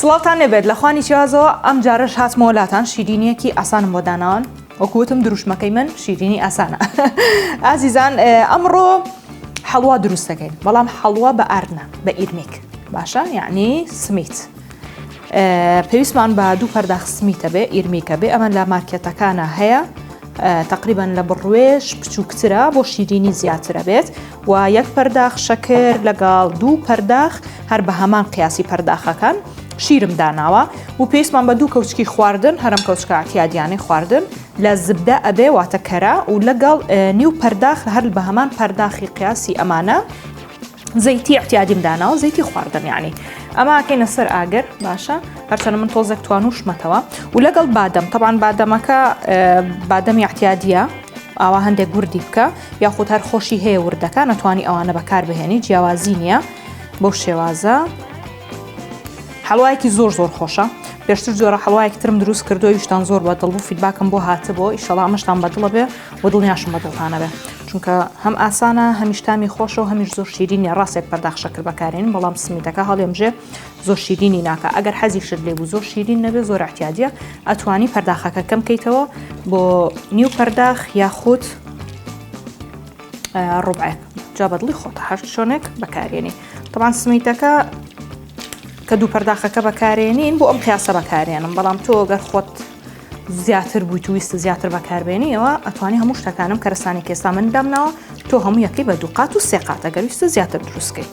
سڵاوتان لێبێت لە خوانی چیازەوە ئەم جارەش هاتمەوە لاتان شیرینیەکی ئاسانم بۆ داناوان وەکوتم دروشمەکەی من شیرینی ئاسانە ئازیزان ئەمڕۆ حەڵوا دروستەکەین بەڵام حەڵوا بە ئارنا بە ئیرمیک باشە یعنی سمیت پێویستمان بە دوو پەرداخ سمیتە بێ ئیرمیکە بێ ئەمە لە مارکێتەکانە هەیە تقریبان لە بڕوێش بچووکترە بۆ شیرینی زیاترە بێت و یەک پەرداخ شەکر لەگەڵ دوو پەرداخ هەر بە هەمان قیاسی پەرداخەکان شیرم داناوە و پێستمان بە دوو کەوچکی خواردن هەرم کەوچکاتیادیانەی خواردن لە زبدە ئەبێ واتە کەرە و لەگەڵ نیو پەرداخ هەر بە هەمان پەرداخی قیاسی ئەمانە زەیتی احتیادیم داناوە زەیتی خواردن یعنی ئەماکەینە سەر ئاگەر باشە هەرچەنە من تۆزێک توانوشمەتەوە و لەگەڵ بادەم تەبان بادەمەکە بادەمی احتیادە ئاوا هەندێک گوردی بکە یاخود هەر خۆشی هەیە وردەکە نەتوانی ئەوانە بەکاربهێنی جیاوازی نییە بۆ شێوازە حەڵایەکی زۆر زۆر خۆشە پێشتر جۆرە حەڵایەک ترم دروست کردو ویشتان زۆر بە دڵ و فیدباکم بۆ هاتبوو ئیشەڵا مەشتان بەدڵە بێ و دڵنیاشم بە دڵتانە بێ چونکە هەم ئاسانە هەمیشتامی خۆشە و هەمیش زۆر شیرینە ڕاستێک پەرداخشە کرد بەکارین بەڵام سمیتەکە هەڵێمژێ زۆر شیرینی ناکا ئەگەر حەزیشت لێ بوو زۆر شیرین نەبێ زۆر احتیادیە ئەتوانی پەرداخەکە کەم کەیتەوە بۆ نیو پەرداخ یاخود ڕوبعێک جا بەدڵی خۆتە هەر شوێنێک بەکارێنی تەوان سمیتەکە کە دوو پەرداخەکە بەکارێنین بۆ ئەم قیاسە بەکارێنم بەڵام تۆ گەر خۆت زیاتر بووی توویست زیاتر بەکاربێنیەوە ئەتوانی هەموو شتەکانم کەرسانی کێستا من دامناوە تۆ هەموو یەکەی بە دووقات و سێقاتە گەویستە زیاتر دروستکەی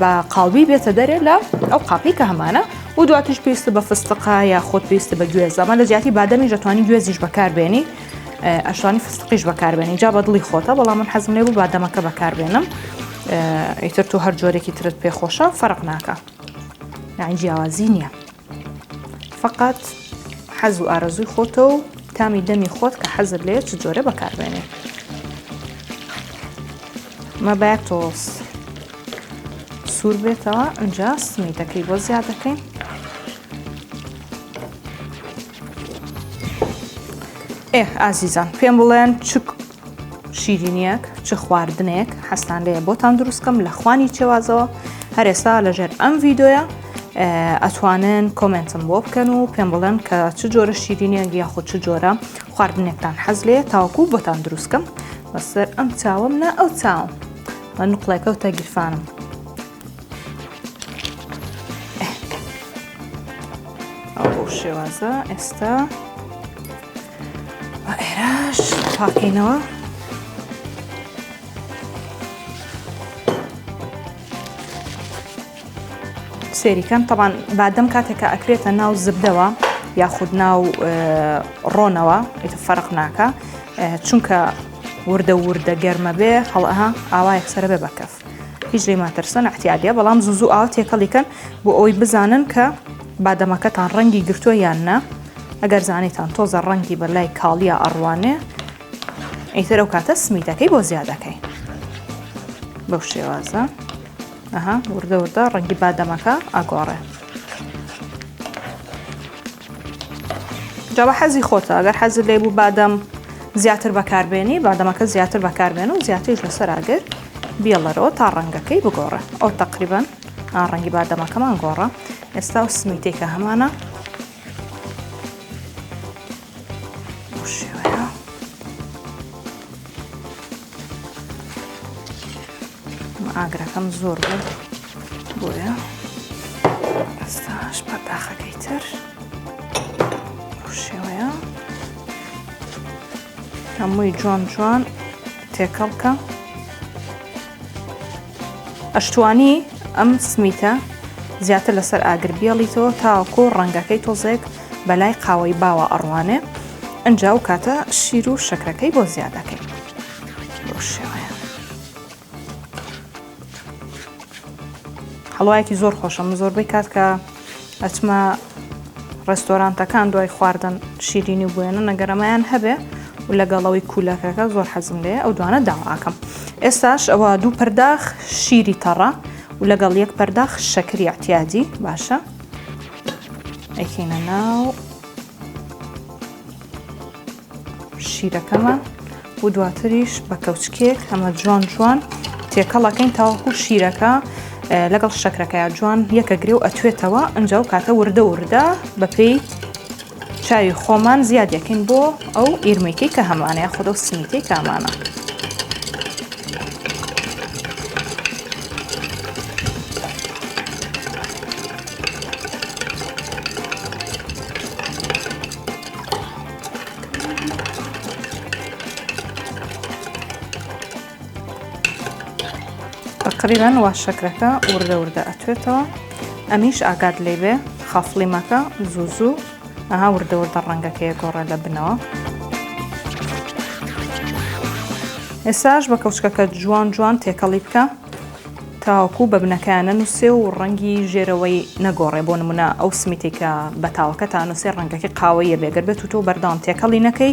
بە قاڵبی بێتە دەرێ لە ئەو قاپی کە هەمانە و دواتیش پێویستە بە فستقا یا خۆت پێویستە بە گوێز زەمان لە زیاتی بادەمی دەتوانانی گوێزیش بەکاربێنی ئەشانی فستقیش بەکاربێنی جا بە دڵی خۆتە بەڵام من حەزم لێ بوو بادەمەکە بەکاربێنم ئیتر تۆ هەر جۆرێکی ترت پێخۆشە فەرق ناکە یان جیاوازی نییە. فەقەت حەز و ئارەزووی خۆتە و تامی دەمی خۆت کە حەزت لێ چ جۆرە بەکاربێنێ مە باید تۆڵس سوور بێتەوە ئەجا سمیتەکەی بۆ زیاد دەکەین ئێ ئازیزان پێم بڵێن چ شیرینیەک چ خواردنێک حەستان لێ بۆتان دروستکەم لە خوانی چێوازەوە هەرێستا لەژێر ئەم ڤیددیوە ئەتوانن کۆمنتم بۆ بکەن و پێم بڵێن کە چ جۆرە شیرینیان گیا خۆ چ جۆرە خواردنێکتان حەز لێ تاوەکو بۆتان دروستکەم بەسەر ئەم چاوم نا ئەو چاوم من نقلەکەوتە گیرفانم ئەو بۆ شێوازە ئێستا بە ئێراش پاکەینەوە سێریکەم تەبان بادەم کاتێکە ئەکرێتە ناو زبدەوە یاخود ناو ڕۆنەوە ئیتە فەرق ناکە چونکە وردە وردە گەرمە بێ هەڵەها ئاوا یەکسرە بێ بەکەف. هیچ لێی مەترسن احتیالیە بەڵام زوو زوو ئاوە تێکەڵی کەن بۆ ئەوەی بزانن کە بادەمەکەتان ڕەنگی گرتووە یان نا ئەگەر زانیتان تۆزە ڕەنگی بە لای کاڵیا ئەڕوانێ ئیتر ئەو کاتە سمیتەکەی بۆ زیادەکەی بەو شێوازە ئەها وردە وردە ڕەنگی بادەمەکە ئاگۆڕێ جا بە حەزی خۆتە ئەگەر حەزت لێ بوو بادەم زیاتر بەکاربێنی بادەمەکە زیاتر بەکاربێن و زیاتریش لەسەر ئاگر بیڵەرەوە تا ڕەنگەکەی بگۆڕێ ئەو تەقریبن ڕەنگی بادەمەکەمان گۆڕە ئێستا و سمیتێکە هەمانە ئاگرەکەم زۆر بوو بۆیە ئەستاش پەرداخەکەی تر شێوەیە هەمووی جوان جوان تێکەڵکە ئەشتوانی ئەم سمیتە زیاتر لەسەر ئاگر بیاڵیتەوە تاکۆ ڕەنگەکەی تۆزێک بەلای قاوەی باوە ئەڕوانێ ئەنجا ئەو کاتە شیر و شەکرەکەی بۆ زیادەکەین بۆ شێوەیە هەڵوایەکی زۆر خۆشە من زۆربەی کات کە ئەچمە ڕێستۆرانتەکان دوای خواردن شیرینی بوێنە نەگەرەمایان هەبێ و لەگەڵەوەی کوولەکەەکە زۆر حەزم لێ ئەو دوانە داواکەم ئێستاش ئەوە دوو پەرداخ شیری تەڕە و لەگەڵ یەک پەرداخ شەکری احتیادی باشە ئەیکەینە ناو شیرەکەمان و دواتریش بە کەوچکێک هەمە جوان جوان تێکەڵەکەین تاوەکو شیرەکە لەگەڵ شەکرەکەیان جوان یەکە گرێ و ئەتوێتەوە ئەنجاو کاتە وردە وردە بەپێی چاوی خۆمان زیاد یەکەین بۆ ئەو ئیرمەیکەی کە هەمانە یاخود ئەو سمیتەی کامانە. تەقریبەن وا شەکرەکە وردە وردە ئەتوێتەوە ئەمیش ئاگات لێ بێ خافڵی مەکە زوو زوو ئەها وردە وردە ڕەنگەکەیە گۆڕە لە بنەوە ئێساش بە کەوچکەکە جوان جوان تێکەڵی بکە تاوەکو بە بنەکانە نووسێ و ڕەنگی ژێرەوەی نەگۆڕێ بۆ نمونە ئەو سمیتێکە بە تاوەکە تا نووسێ ڕەنگەکەی قاوەیە بێگەر بێت و تۆ بەردەوام تێکەڵی نەکەی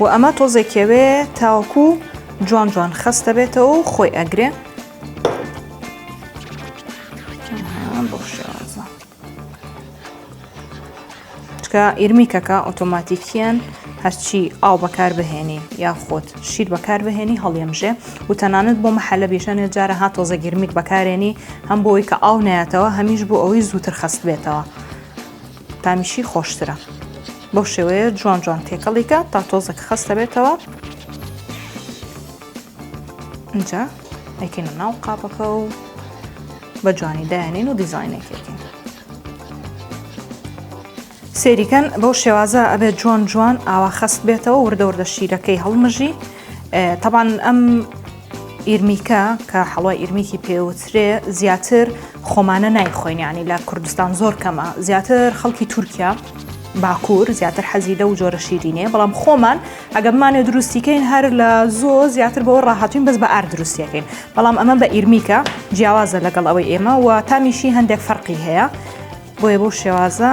وە ئەمە تۆزێ کێوێ تاوەکو جوان جوان خەست دەبێتەوە و خۆی ئەگرێ چکە ئیرمیکەکە ئۆتۆماتیکیان هەرچی ئاو بەکار بهێنی یا خۆت شیر بەکار بهێنی هەڵیەمژێ و تەنانەت بۆ محەلە بیژەنێ جارە هات تۆزە گرمیک بەکارێنی هەم بۆی کە ئاو ناتەوە هەمیش بۆ ئەوەی زووتر خەست بێتەوە. تامیشی خۆشترە بەو شێوەیە جوان جوان تێکەڵیکە تا تۆزەک خەستە بێتەوە اینجا ئەکەینە ناو قاپەکە و بە جوانی دایانین و دیزینێکێکین سێریکەن بەو شێوازە ئەبێت جوان جوان ئاوا خەست بێتەوە وردە وردە شیرەکەی هەڵمژی تەبان ئەم ئیرمیکە کە حەڵای ئیرمیکی پێوترێ زیاتر خۆمانە نایخۆینیانی لە کوردستان زۆر کەمە زیاتر خەڵکی تورکیا باکوور زیاتر حەزی لە و جۆرە شیرینێ بەڵام خۆمان ئەگەمانێ دروستیکەین هەر لە زۆ زیاتر بەوە ڕاهاتین بەس بە ئار دروستیەکەین بەڵام ئەمە بە ئیرمیکە جیاوازە لەگەڵ ئەوەی ئێمە و تامیشی هەندێک فەرقی هەیە بۆیە بۆ شێوازە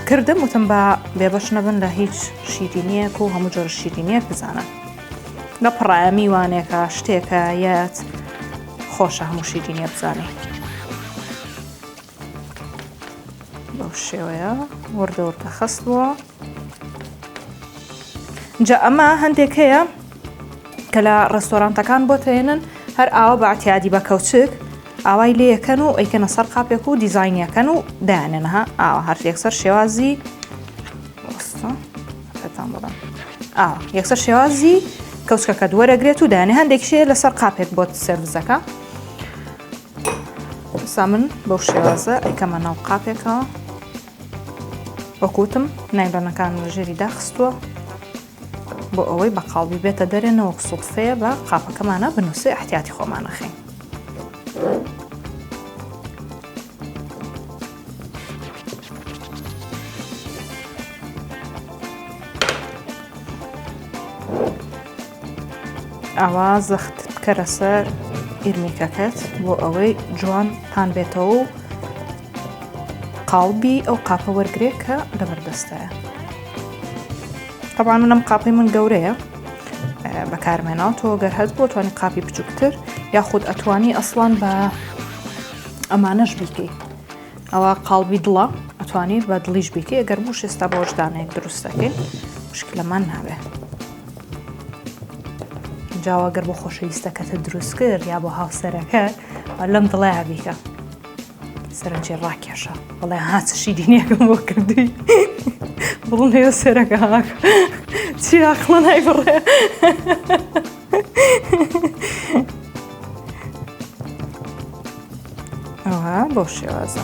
کردم وتم با بێبەش نەبن لە هیچ شیرینیەک و هەموو جۆر شیرینیەک بزانە لە پڕایە میوانێکە شتێکە یەت خۆشە هەموو شیرینیە بزانێ بەو شێوەیە وردە وردە خستووە جا ئەمە هەندێک هەیە کە لە ڕێستۆرانتەکان بۆت ئەیەنن هەر ئاوا بە عتیادی بە کەوچک ئاوای لێەکەن و ئەیکەنە سەر قاپێک و دیزینیەکەن و دایانێنەها ئاوا هەر یەکسەر شێوازی ئاوا یەکسەر شێوازی کەوچکەکە دووەرەگرێت و دانێ هەندێک شێ لەسەر قاپێک بۆت سەرزەکە سا من بەو شێوازە ئەیکەمە ناو قاپێکەوە وەکوتم نایبەنەکان ژێری داخستووە بۆ ئەوەی بەقاڵبی بێتە دەرێ نەوەک سوتفەیە بە قاپەکەمانە بنووسێ احتیاتی خۆمان نەخەین. ئاوا زەخت بکەرە سەر ئیرمیکەکەت بۆ ئەوەی جوان پان بێتەوە و قاڵبی ئەو قاپە وەرگرێ کە لە بەردەستایە تەبان منم قاپی من گەورەیە بەکارمێناو تۆ گەر هەست بۆ توانی قاپی بچووکتر یاخود ئەتوانی ئەسڵان بە ئەمانەش بیکەی ئەوە قاڵبی دڵە ئەتوانی بە دڵیش بیکەی ئەگەر بوو شێستا بۆشدانێک دروستەکەی مشکلەمان نابێت جاواگەر بۆ خۆشەویستەکەتە دروست کرد یا بۆ هاوسەرەکە لەم دڵەیە بیکە سەرنجی ڕاکێشە بڵێ ها چ شیرینیەکەم بۆ کردی بڵێ سەرەکە چیراخڵە نای بڕێ ئەوها بۆ شێوازە.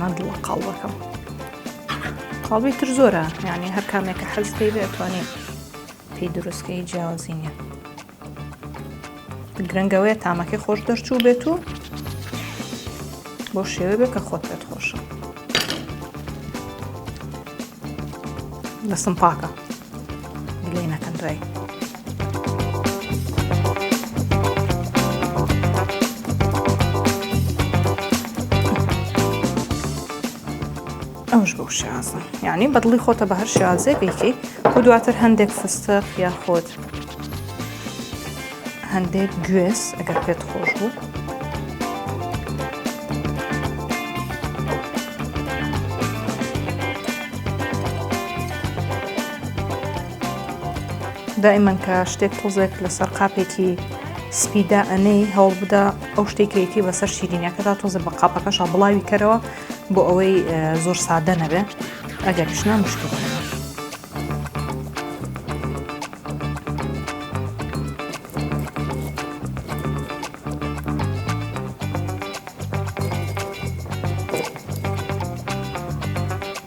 مادڵە قاڵبەکەم قاڵبی تر زۆرە یعنی هەر کامێکە حەز پێی بێتوانێت پێی دروستکەی جیاوازی نیە گرنگەوەیە تامەکەی خۆش دەرچوو بێت و بۆ شێوە بێت کە خۆت پێت خۆشە دەستم پاکە لێ نەکەن دوای ئەوش بۆ شازە یعنی بەدڵی خۆتە بە هەر شازێ بیکەی و دواتر هەندێک فستق یا خۆت هەندێک گوێز ئەگەر پێت خۆش بوو. دائیمەن کە شتێک تۆزێک لەسەر قاپێکی سپیدا ئەنەی هەوڵ بدە ئەو شتێک کەیتی بەسەر شیرینەکەدا تۆزە بە قاپەکەشا بڵاوی کەرەوە بۆ ئەوەی زۆر سادە نەبێ ئەگەر شنا مشکل.